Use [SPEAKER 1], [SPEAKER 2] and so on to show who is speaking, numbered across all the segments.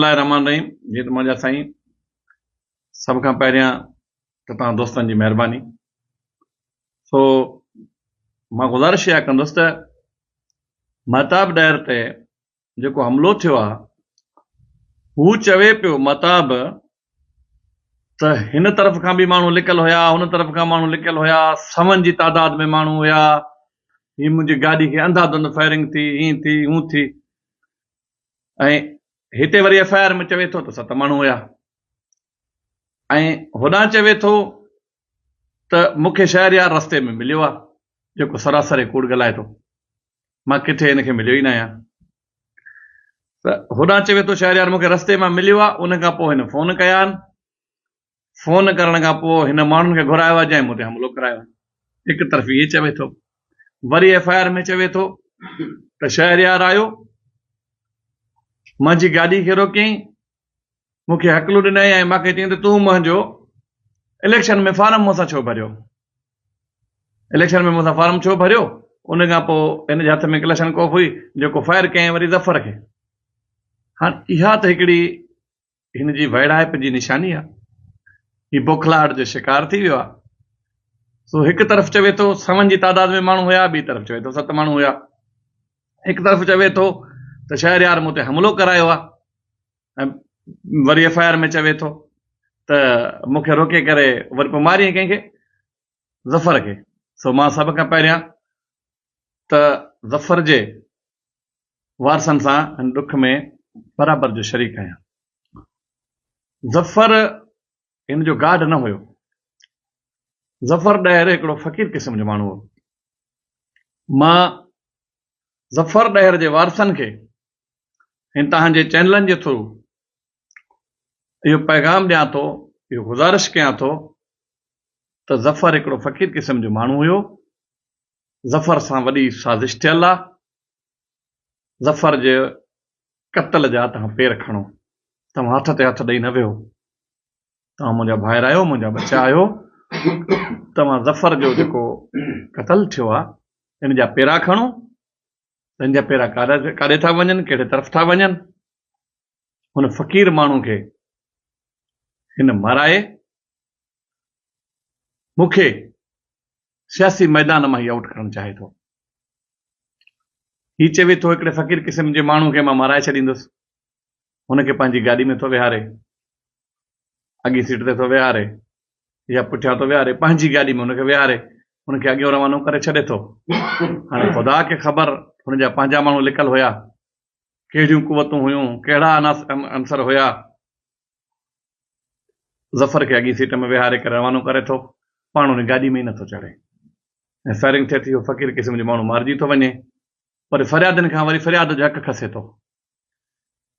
[SPEAKER 1] الله الرحمٰن الرحيم جي ته منهنجا سائين سڀ کان پهريان ته توهان دوستن جي مهرباني سو مان گذارش اها ڪندس ته مهتاب ڏهر تي جيڪو حملو ٿيو آهي هو چوي پيو مهتاب ته هن طرف کان به ماڻهو لڪل هيا هن طرف کان ماڻهو لڪل هيا سون جي تعداد ۾ ماڻهو هيا هي منهنجي گاڏي کي انڌا ڌند فائرنگ ٿي هين ٿي هون ٿي ۽ هتي وري ايف آء آر ۾ چوي ٿو ته ست ماڻهو هيا ۽ هوڏانهن چوي ٿو ته مون کي شهريار رستي ۾ مليو آهي جيڪو سراسر ڪوڙ ڳالهائي ٿو مان ڪٿي هن کي مليو ئي نه آهيان ته هوڏانهن چوي ٿو شهريار مون کي رستي مان مليو آهي ان کان پوء هن فون ڪيا آهن فون ڪرڻ کان پوء هن ماڻهن کي گهرايو آهي جنهن مون تي حملو ڪرايو آهي هڪ طرفي هي چوي ٿو وري ايف آء آر ۾ چوي ٿو ته شهريار آيو منهنجي گاڏي کي روڪيائين مون کي هڪلو ڏنائين ۽ مون کي چيائين ته تون منهنجو اليڪشن ۾ فارم مون سان ڇو ڀريو اليڪشن ۾ مون سان فارم ڇو ڀريو ان کان پوء هن جي هٿ ۾ ڪلشن ڪوف هئي جيڪو فائر ڪيائين وري ظفر کي هاڻ اها ته هڪڙي هن جي ويڙهائپ جي نشاني آ. هي بوکلاهٽ جو شڪار ٿي ويو آ. سو هڪ طرف چوي ٿو سون جي تعداد ۾ ماڻهو هيا ٻي طرف چوي ٿو ست ماڻهو هيا. هڪ طرف چوي ٿو ته شهريار مون تي حملو ڪرايو آ ۽ وري ايف آء آر ۾ چوي ٿو ته مون کي روڪي ڪري وري پوء ماريئين ڪنهن کي ظفر کي سو مان سڀ کان پهريان ته ظفر جي وارثن سان هن ڏک ۾ برابر جو شريڪ آهيان. ظفر هن جو گارڊ نه هيو. ظفر ڏهر هڪڙو فقير قسم جو ماڻهو هو. مان ظفر ڏهر جي وارثن کي هن توهان جي چينلن جي ٿرو اهو پيغام ڏيان ٿو، اهو گذارش ڪيان ٿو ته ظفر هڪڙو فقير قسم جو ماڻهو هيو. ظفر سان وڏي سازش ٿيل آ، ظفر جي قتل جا توهان پير کڻو، توهان هٿ تي هٿ ڏئي نه ويهو، توهان منهنجا ڀائر آهيو، منهنجا ٻچا آهيو، توهان ظفر جو جيڪو قتل ٿيو آ ان جا پيرا کڻو، تن جا پيرا ڪاڏي ٿا وڃن، ڪهڙي طرف ٿا وڃن، هن فقير ماڻهو کي هن مارائي، مون کي سياسي ميدان مان ئي آئوٽ ڪرڻ چاهي ٿو. هي چوي ٿو هڪڙي فقير قسم جي ماڻهو کي مان مارائي ڇڏيندس. هن کي پنهنجي گاڏي ۾ ٿو ويهاري. اڳين سيٽ تي ٿو ويهاري يا پٺيان ٿو ويهاري پنهنجي گاڏي ۾ هن کي ويهاري هن کي اڳيون روانو ڪري ڇڏي ٿو. هاڻي خدا کي خبر هن جا پنهنجا ماڻهو لڪل هيا. ڪهڙيون قوتون هيون ڪهڙا عناصر هيا. ظفر کي اڳين سيٽ ۾ ويهاري ڪري روانو ڪري ٿو، پاڻ ان گاڏي ۾ ئي نٿو چڙهي ۽ فائرنگ ٿئي ٿي، اهو فقير قسم جو ماڻهو مارجي ٿو وڃي، پر فريادين کان وري فرياد جو حق کسي ٿو،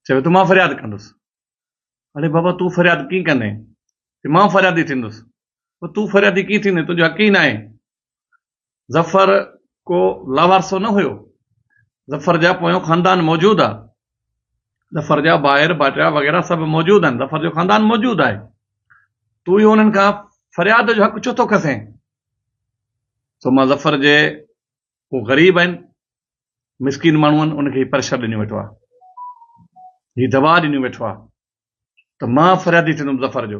[SPEAKER 1] چوي ٿو مان فرياد ڪندس، اڙي بابا تون فرياد ڪيئن ڪندين، چي مان فريادي ٿيندس، تون فريادي ڪيئن ٿيندين، تنهنجو حق ئي ناهي، ظفر ڪو لاوارثو نه هيو. ظفر جا پويون خاندان موجود آ. ظفر جا ڀائر ڀائٽيا وغيره سڀ موجود آهن. ظفر جو خاندان موجود آهي. تون اهو انهن کان فرياد جو حق ڇو ٿو کسين؟ سو مان ظفر جي هو غريب آهن، مسڪين ماڻهو آهن، ان کي هي پريشر ڏنيو ويٺو آ. هي دٻاء ڏنيو ويٺو آ ته مان فريادي ٿيندم ظفر جو.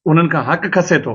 [SPEAKER 1] انهن کان حق کسي ٿو.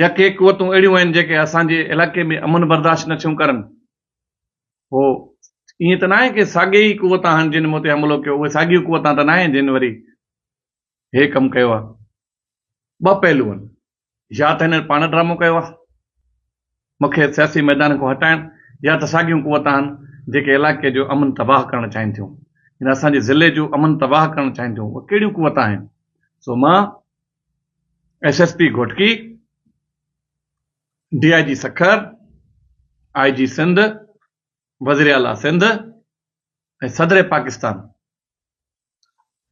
[SPEAKER 1] يا ڪي قوتون اهڙيون آهن جيڪي اسان جي علائقي ۾ امن برداشت نه ٿيون ڪرن. هو ائين ته ناهي ڪي ساڳي ئي قوتان آهن جن مون تي حملو ڪيو، اهي ساڳيون قوتان ته ناهن جن وري هي ڪم ڪيو آهي. ٻه پهلو آهن، يا ته هنن پاڻ ڊرامو ڪيو آهي مون کي سياسي ميدان کان هٽائڻ يا ته ساڳيون قوتان آهن جيڪي علائقي جو امن تباهه ڪرڻ چاهين ٿيون يعني اسان جي ضلعي جو امن تباهه ڪرڻ چاهين ٿيون اهي ڪهڙيون قوتان آهن سو مان S S P Ghotki, D I G Sukkur, I G Sindh, وزير اعليٰ سنڌ ۽ صدر پاڪستان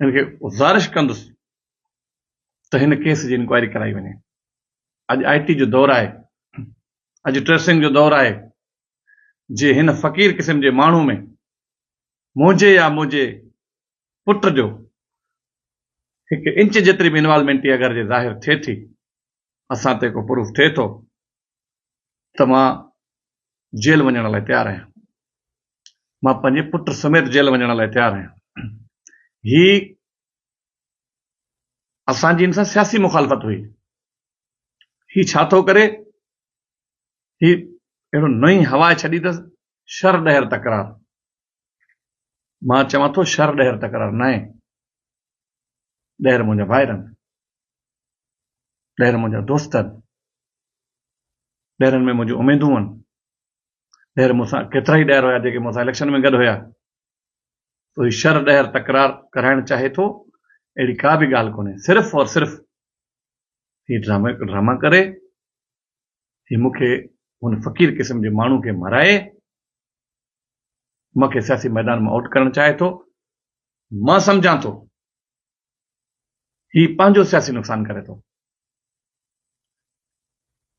[SPEAKER 1] هن کي گذارش ڪندس ته هن ڪيس جي انڪوائري ڪرائي وڃي. اڄ آء ٽي جو دور آهي، اڄ ٽريسنگ جو دور آهي، جي هن فقير قسم جي ماڻهو ۾ موجي يا موجي پٽ جو هڪ انچ جيتري به انوالومينٽ هي اگر جي ظاهر ٿئي ٿي اسان تي ڪو پروف ٿئي ٿو ته مان جيل وڃڻ لاء تيار آهيان مان پنهنجي پٽ سميت جيل وڃڻ لاء تيار آهيان هي اسان جي ان سان سياسي مخالفت هئي هي ڇا ٿو ڪري هي اهڙو نئين هوا ڇڏي اٿس شر ڏهر تڪرار مان چوان ٿو شھر ڏھر تڪرار ناھي، ڏھر منھنجا ڀائرن، ڏھر منھنجا دوستن، ڏھرن ۾ منھنجون اميدون ھن، ڏھر مون سان ڪيترائي ڏھر ھيا جيڪي مون سان اليڪشن ۾ گڏ ھيا، سو ھي شھر ڏھر تڪرار ڪرائڻ چاھي ٿو اھڙي ڪا به ڳالھ ڪونھي، صرف اور صرف ھي ڊرامو ھڪ ڊراما ڪري، ھي مون کي ھن فقير قسم جي ماڻھو کي مرائي، مون کي سياسي ميدان مان آئوٽ ڪرڻ چاهي ٿو، مان سمجهان ٿو هي پنهنجو سياسي نقصان ڪري ٿو،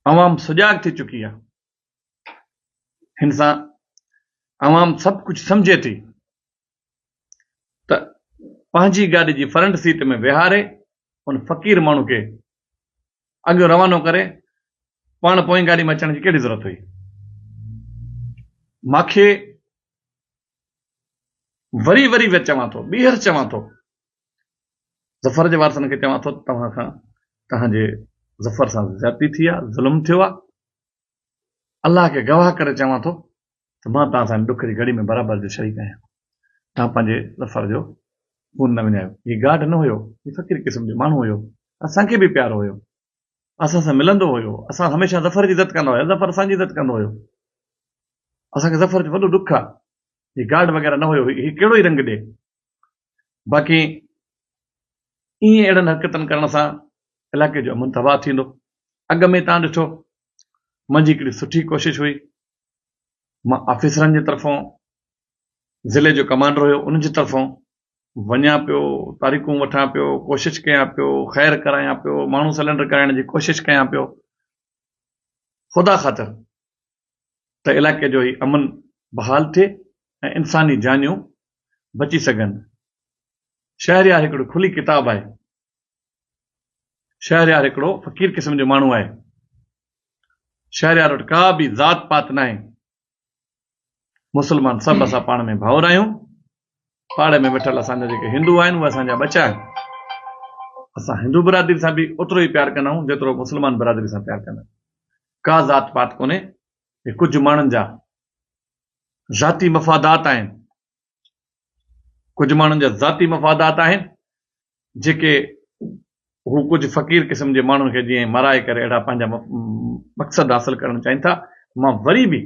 [SPEAKER 1] عوام سجاڳ ٿي چڪي آهي، هن سان عوام سڀ ڪجهه سمجهي ٿي. ته پنهنجي گاڏي جي فرنٽ سيٽ ۾ ويهاري ان فقير ماڻهو کي اڳيون روانو ڪري پاڻ پوئين گاڏي ۾ اچڻ جي ڪهڙي ضرورت هئي. ماکي وري وري ويت چوان ٿو ٻيهر چوان ٿو ظفر جي وارثن کي چوان ٿو توهان کان توهان جي ظفر سان زيادتي ٿي آهي ظلم ٿيو آهي الله کي گواهه ڪري چوان ٿو ته مان توهان سان هن ڏک جي گهڙي ۾ برابر جو شريڪ آهيان. توهان پنهنجي ظفر جو خون نه وڃايو. هي گارڊ نه هيو، هي فقير قسم جو ماڻهو هيو، اسان کي به پيارو هيو، اسان سان ملندو هيو، اسان هميشه ظفر جي عزت ڪندا هياسين، ظفر اسان جي عزت ڪندو هيو. اسان کي ظفر جو وڏو ڏک آهي. هي گارڊ وغيره نه هيو، هي ڪهڙو ئي رنگ ڏي. باقي ائين اهڙن حرڪتن ڪرڻ سان علائقي جو امن تباهه ٿيندو اڳ ۾ تان ڏٺو منهنجي هڪڙي سٺي ڪوشش هئي مان آفيسرن جي طرفون ضلعي جو ڪمانڊر هيو ان جي طرفون وڃان پيو تاريخون وٺان پيو ڪوشش ڪيان پيو خير ڪرايان پيو ماڻهو سلينڊر ڪرائڻ جي ڪوشش ڪيان پيو خدا خاطر ته علائقي جو هي امن بحال ٿئي ۽ انساني جانيون بچي سگهن. شهريار هڪڙو کلي ڪتاب آهي. شهريار هڪڙو فقير قسم جو ماڻهو آهي. شهريار وٽ ڪا به ذات پات ناهي. مسلمان سڀ اسان پاڻ ۾ ڀائر آهيون. پاڙي ۾ ويٺل اسان جا جيڪي هندو آهن اهي اسان جا ٻچا آهن. اسان هندو برادري سان به اوترو ئي پيار ڪندا آهيون جيترو مسلمان برادري سان پيار ڪندا آهيون. ڪا ذات پات ڪونهي. هي ڪجهه ماڻهن جا ذاتي مفادات آهن. ڪجهه ماڻهن جا ذاتي مفادات آهن جيڪي هو ڪجهه فقير قسم جي ماڻهن کي جيئن مرائي ڪري اهڙا پنهنجا مقصد حاصل ڪرڻ چاهين ٿا مان وري به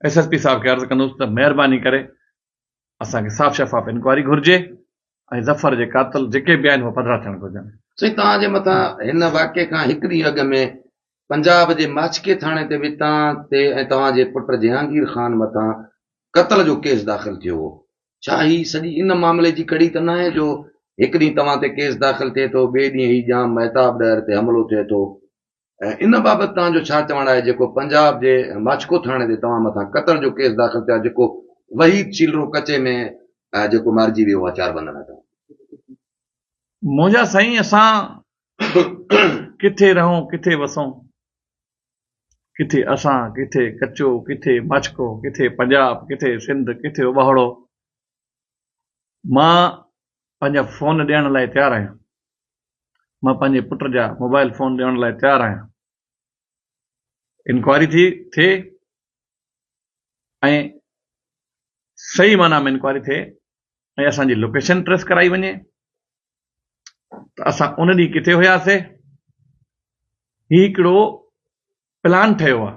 [SPEAKER 1] ايس ايس پي صاحب کي عرض ڪندس ته مهرباني ڪري اسان کي صاف شفاف انڪوائري گهرجي ۽ ظفر جي قاتل جيڪي به آهن اهي پڌرا ٿيڻ گهرجن سائين توهان جي مٿان
[SPEAKER 2] هن واقعي کان هڪ ڏينهن اڳ ۾ پنجاب جي ماڇڪي ٿاڻي تي به توهان تي ۽ توهان جي پٽ جهانگير خان مٿان قتل جو ڪيس داخل ٿيو هو ڇا هي سڄي ان معاملي جي ڪڙي ته ناهي جو هڪ ڏينهن توهان تي ڪيس داخل ٿئي ٿو، ٻئي ڏينهن هي ڄام مهتاب ڏهر تي حملو ٿئي ٿو ۽ ان بابت توهان جو ڇا چوڻ آهي جيڪو پنجاب جي ماڇڪو ٿاڻي تي توهان مٿان قتل جو ڪيس داخل ٿيو آهي جيڪو وحيد شيلرو ڪچي ۾ جيڪو مارجي ويو آهي چار بندن هٿان.
[SPEAKER 1] منهنجا سائين اسان ڪٿي رهون ڪٿي وسون. ڪٿي اسان، ڪٿي ڪچو، ڪٿي ماڇڪو، ڪٿي پنجاب، ڪٿي سنڌ، ڪٿي ابهوڙو. مان پنهنجا فون ڏيڻ لاء تيار آهيان. مان پنهنجي پٽ جا موبائل فون ڏيڻ لاء تيار آهيان. انڪوائري ٿي ٿئي ۽ صحيح معنيٰ ۾ انڪوائري ٿئي ۽ اسان جي لوڪيشن ٽريس ڪرائي وڃي. ته اسان ان ڏينهن ڪٿي هياسي؟ هي هڪڙو پلان ٺهيو آهي.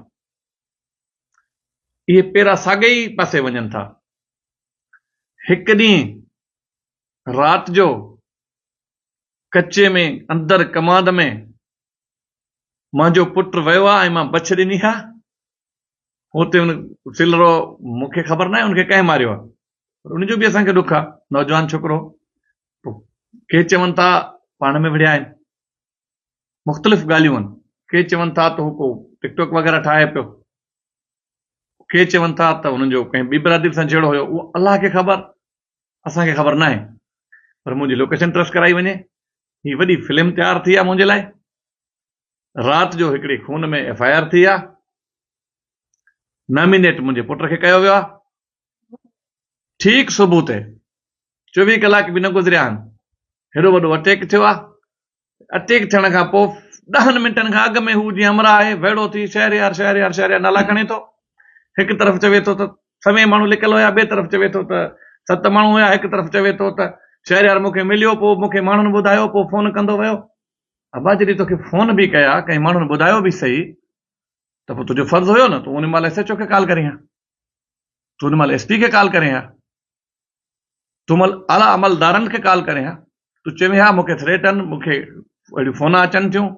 [SPEAKER 1] اهي پيرا ساڳئي ئي پاسي وڃن ٿا. هڪ ڏينهن رات جو ڪچي ۾ اندر ڪمانڌ ۾ منهنجو پٽ ويو آهي ۽ مان بڇ ڏني آهي هو تي ان سلرو مون کي خبر ناهي ان کي ڪنهن ماريو آهي پر ان جو به اسان کي ڏک آهي نوجوان ڇوڪرو هو ڪي چون ٿا پاڻ ۾ وڙهيا آهن مختلف ڳالهيون آهن ڪي چون ٿا ته هو ڪو ٽڪ ٽوڪ وغيره ٺاهي پيو ڪي چون ٿا ته هن جو ڪنهن ٻي برادري سان جهيڙو هيو اهو الله کي خبر اسان کي خبر ناهي پر منهنجي لوڪيشن ٽريس ڪرائي وڃي هي وڏي فلم تيار ٿي آ منهنجي لاء رات جو هڪڙي خون ۾ ايف آء آر ٿي آ نامينيٽ منهنجي پٽ کي ڪيو ويو آ ٺيڪ صبح تي چوويهه ڪلاڪ به نه گذريا آهن هيڏو وڏو اٽيڪ ٿيو آ اٽيڪ ٿيڻ کان پوء ڏهن منٽن کان اڳ ۾ هو جيئن همراهه آهي ويڙهو ٿي شهريار شهريار شهريار نالا کڻي ٿو هڪ طرف چوي ٿو ته سوين ماڻهو لڪل هيا ٻئي طرف چوي ٿو ته ست ماڻهو هيا هڪ طرف چوي ٿو ته شهريار مون کي مليو پوء مون کي ماڻهن ٻڌايو پوء فون ڪندو ويو ابا جڏهن توکي فون به ڪيا ڪنهن ماڻهن ٻڌايو به صحيح ته پوء تنهنجو فرض هيو نه تون ان مهل ايس ايچ او کي ڪال ڪرين ها تون ان مهل ايس پي کي ڪال ڪرين ها تون مل اعليٰ عملدارن کي ڪال ڪرين ها تون چوين ها مون کي ٿريٽ آهن مون کي اهڙيون فون اچن ٿيون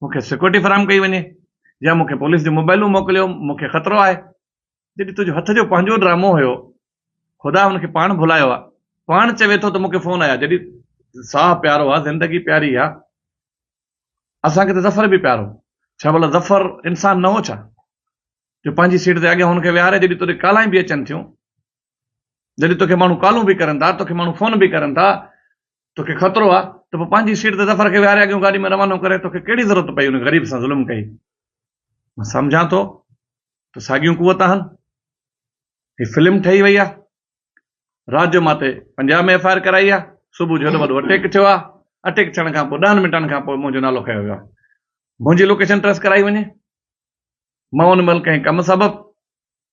[SPEAKER 1] مون کي سيڪيورٽي فراهم ڪئي وڃي يا مون کي پوليس جون موبائلون موڪليو مون کي خطرو آهي جڏهن تنهنجو هٿ جو پنهنجو ڊرامو هيو خدا هن کي پاڻ ڀلايو آهي پاڻ چوي ٿو ته مون کي فون آيا جڏهن ساهه پيارو آهي زندگي پياري آهي اسان کي ته ظفر به پيارو ڇا ڀلا ظفر انسان نه هو ڇا جو پنهنجي سيٽ تي اڳيان هن کي ويهاري جڏهن تڏهن ڪالائين به اچن ٿيون جڏهن توکي ماڻهو ڪالون به ڪرن ٿا، توکي ماڻهو فون به ڪرن ٿا، توکي خطرو آ ته پوء پنهنجي سيٽ تي ظفر کي ويهاري اڳيون گاڏي ۾ روانو ڪري، توکي ڪهڙي ضرورت پئي ان غريب سان ظلم ڪئي. مان سمجهان ٿو ته ساڳيون قوت آهن. هي فلم ٺهي وئي آ. رات جو مان تي پنجاهه ۾ ايف آء آر ڪرائي آ. صبح جو هيڏو وڏو اٽيڪ ٿيو آ. اٽيڪ ٿيڻ کان پوء ڏهن منٽن کان پوء منهنجو نالو کنيو ويو آ. منهنجي لوڪيشن ٽريس ڪرائي وڃي. مان ان مهل ڪنهن ڪم سبب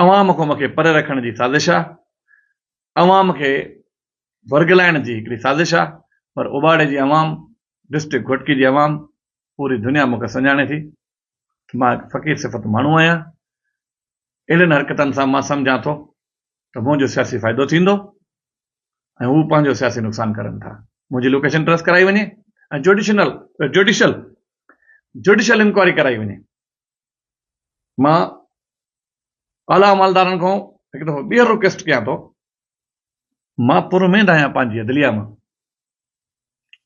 [SPEAKER 1] عوام کان مونکي پري رکڻ جي سازش آ عوام کي ورغلائڻ جي هڪڙي سازش آ پر اوٻاڙي جي عوام ڊسٽرڪٽ گهوٽڪي جي عوام پوري دنيا مونکي سڃاڻي ٿي ته مان هڪ فقير صفت ماڻهو آهيان اهڙين حرڪتن سان مان سمجهان ٿو ته منهنجو سياسي فائدو ٿيندو ۽ هو پنهنجو سياسي نقصان ڪرن ٿا منهنجي لوڪيشن ٽريس ڪرائي وڃي ۽ جوڊيشنل جوڊيشل جوڊيشل انڪوائري ڪرائي وڃي مان اعليٰ عملدارن کان هڪ دفعو ٻيهر رڪويسٽ ڪيان ٿو مان پر اميد آهيان پنهنجي عدليه مان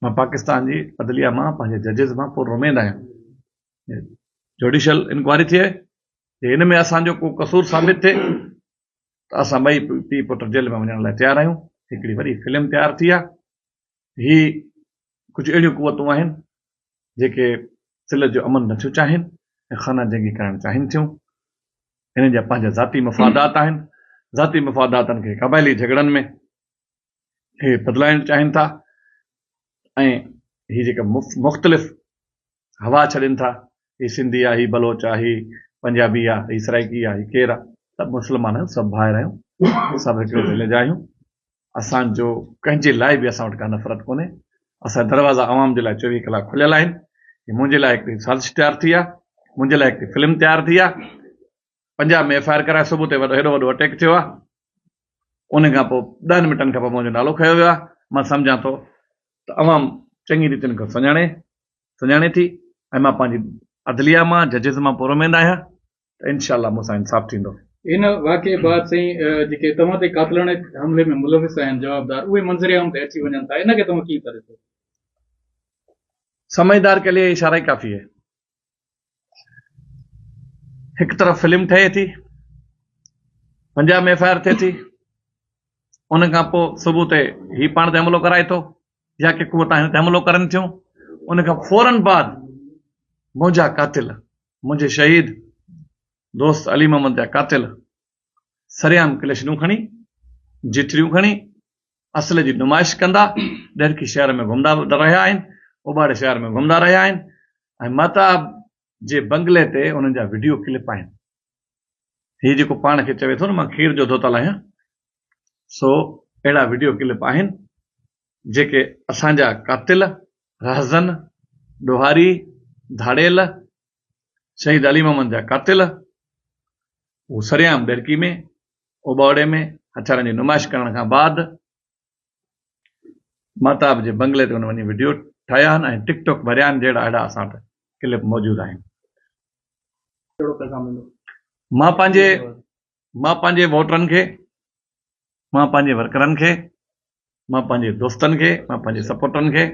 [SPEAKER 1] مان پاڪستان جي عدليه مان پنهنجي ججز مان پر اميد آهيان جوڊيشل انڪوائري ٿئي جي ان ۾ اسانجو ڪو قصور ثابت ٿئي ته اسان ٻئي پيء پٽ جيل ۾ وڃڻ لاء تيار آهيون هڪڙي وڏي فلم تيار ٿي آهي هي ڪجهه اهڙيون قوتون آهن جيڪي سلهه جو امن نٿيون چاهين ۽ خانه جنگي ڪرائڻ چاهين ٿيون. انهن جا پنهنجا ذاتي مفادات آهن. ذاتي مفاداتن کي قبائلي جهڳڙن ۾ اهي بدلائڻ چاهين ٿا ۽ هي جيڪا مختلف هوا ڇڏين ٿا هي سنڌي آ هي بلوچ آ هي پنجابي آ هي سرائيڪي آ هي ڪير آ سڀ مسلمان آهيون سڀ ڀائر آهيون سڀ هڪڙي ضلع جا آهيون اسان جو ڪنهن جي لاء به اسان وٽ ڪا نفرت ڪونهي اسان دروازا عوام جي لاء چويهه ڪلاڪ کليل آهن هي منهنجي لاء هڪڙي سازش تيار ٿي آ منهنجي لاء هڪڙي فلم تيار ٿي آ پنجاب ۾ ايف آء آر ڪرائي صوبو تي هيڏو وڏو اٽيڪ ٿيو آهي ان کان پوء ڏهن منٽن کان پوء منهنجو نالو کنيو ويو آهي مان سمجهان ٿو ته عوام چڱي ريت ان کي سڃاڻي سڃاڻي ٿي ۽ مان پنهنجي عدليه مان ججز مان پورو اميد آهيان ته انشاء الله مون سان انصاف ٿيندو. ان واقعي
[SPEAKER 3] بعد سائين جيڪي توهان تي قاتلاڻي حملي ۾ ملوث آهن جوابدار اهي منظر عام تي اچي وڃن ٿا ان کي توهان ڪيئن ٿا ڏسو؟ سمجهدار ڪي لئي اشاره ئي ڪافي هي
[SPEAKER 1] هڪ طرف فلم ٺهي ٿي پنجاب ۾ ايف آء آر ٿئي ٿي ان کان پوء صبح تي هي پاڻ تي حملو ڪرائي ٿو يا ڪي قوت آهن تي حملو ڪرن ٿيون ان کان فورن بعد منهنجا قاتل منهنجي شهيد دوست علي محمد جا قاتل سرعام ڪليشنون کڻي، جٺريون کڻي اصل جي نمائش ڪندا، ڏهرڪي شهر ۾ گهمندا رهيا آهن، اوٻاڙي شهر ۾ گهمندا رهيا آهن ۽ مهتاب جي بنگلي تي انهن جا وڊيو ڪلپ آهن. هي جيڪو پاڻ کي چوي ٿو نه مان کير جو ڌوتل آهيان سو اهڙا وڊيو ڪلپ آهن جيڪي اسان جا قاتل، رهزن، ڏوهاري، ڌاڙيل، شهيد علي محمد جا قاتل هو سرعام ديرڪي ۾ اوٻاوڙي ۾ هٿيارن جي نمائش ڪرڻ کان بعد مهتاب جي بنگلي تي هن وڃي وڊيو ٺاهيا آهن ۽ ٽڪ ٽاڪ ڀريا آهن جهڙا اهڙا اسان وٽ ڪلپ موجود آهن. مان
[SPEAKER 3] پنهنجي
[SPEAKER 1] مان پنهنجي ووٽرن کي، مان پنهنجي ورڪرن کي، مان پنهنجي دوستن کي، مان پنهنجي سپورٽرن کي،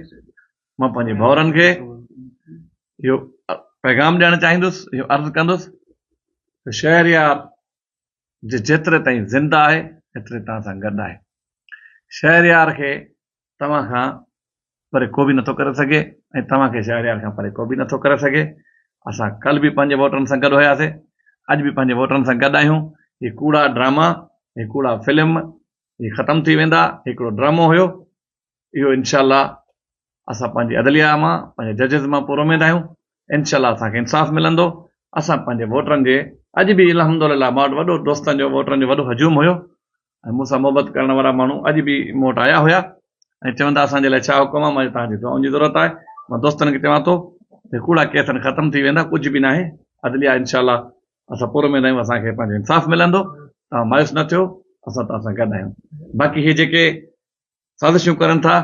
[SPEAKER 1] مان پنهنجي ڀائرن کي اهو پيغام ڏيڻ چاهيندس، اهو عرض ڪندس ته شهريار جيتري تائين زنده آهي ايتري توهان سان گڏ آهي. شهريار کي توهان کان پري ڪو به نٿو ڪري سگهي ۽ توهان کي شهريار کان پري ڪو به نٿو ڪري سگهي، اسان ڪلهه به پنهنجي ووٽرن سان گڏ هياسي، اڄ به پنهنجي ووٽرن سان گڏ آهيون، هي ڪوڙا ڊراما، هي ڪوڙا فلم هي ختم ٿي ويندا، هي هڪڙو ڊرامو هيو، اهو انشاء الله اسان پنهنجي عدليه مان پنهنجي ججز مان پورو اميد آهيون، انشاء الله اسان کي انصاف ملندو، اسان پنهنجي ووٽرن جي اڄ به الحمدلله مان وٽ وڏو دوستن جو ووٽرن جو وڏو هجوم هيو، ۽ مون سان محبت ڪرڻ وارا ماڻهو اڄ به مون وٽ آيا هيا ۽ چوندا اسان جي لاء ڇا حڪم آهي مان چيو توهان جي دعائن جي ضرورت آهي مان دوستن کي چوان ٿو ته ڪوڙا ڪيس هن ختم ٿي ويندا ڪجهه به ناهي عدليا انشاء الله اسان پر اميد آهيون اسان کي پنهنجو انصاف ملندو توهان مايوس نه ٿيو اسان توهان سان گڏ آهيون باقي هي جيڪي سازشون ڪرن ٿا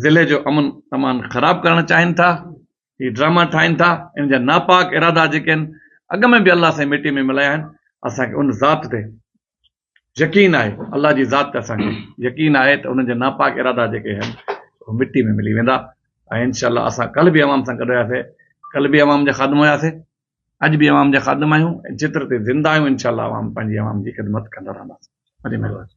[SPEAKER 1] ضلعي جو امن امان خراب ڪرڻ چاهين ٿا هي ڊراما ٺاهين ٿا ان جا ناپاڪ ارادا جيڪي آهن اڳ ۾ به الله سائين مٽي ۾ ملايا آهن اسان کي ان ذات تي يقين آهي الله جي ذات تي اسان کي يقين آهي ته انهن جا ناپاڪ ارادا جيڪي آهن اهي مٽي ۾ ملي ويندا ۽ انشاء الله اسان ڪل به عوام سان گڏ هياسي ڪل به عوام جا خادم هياسي اڄ به عوام جا خادم آهيون ۽ چتر تي زنده آهيون انشاء الله عوام پنهنجي عوام جي خدمت ڪندا رهنداسين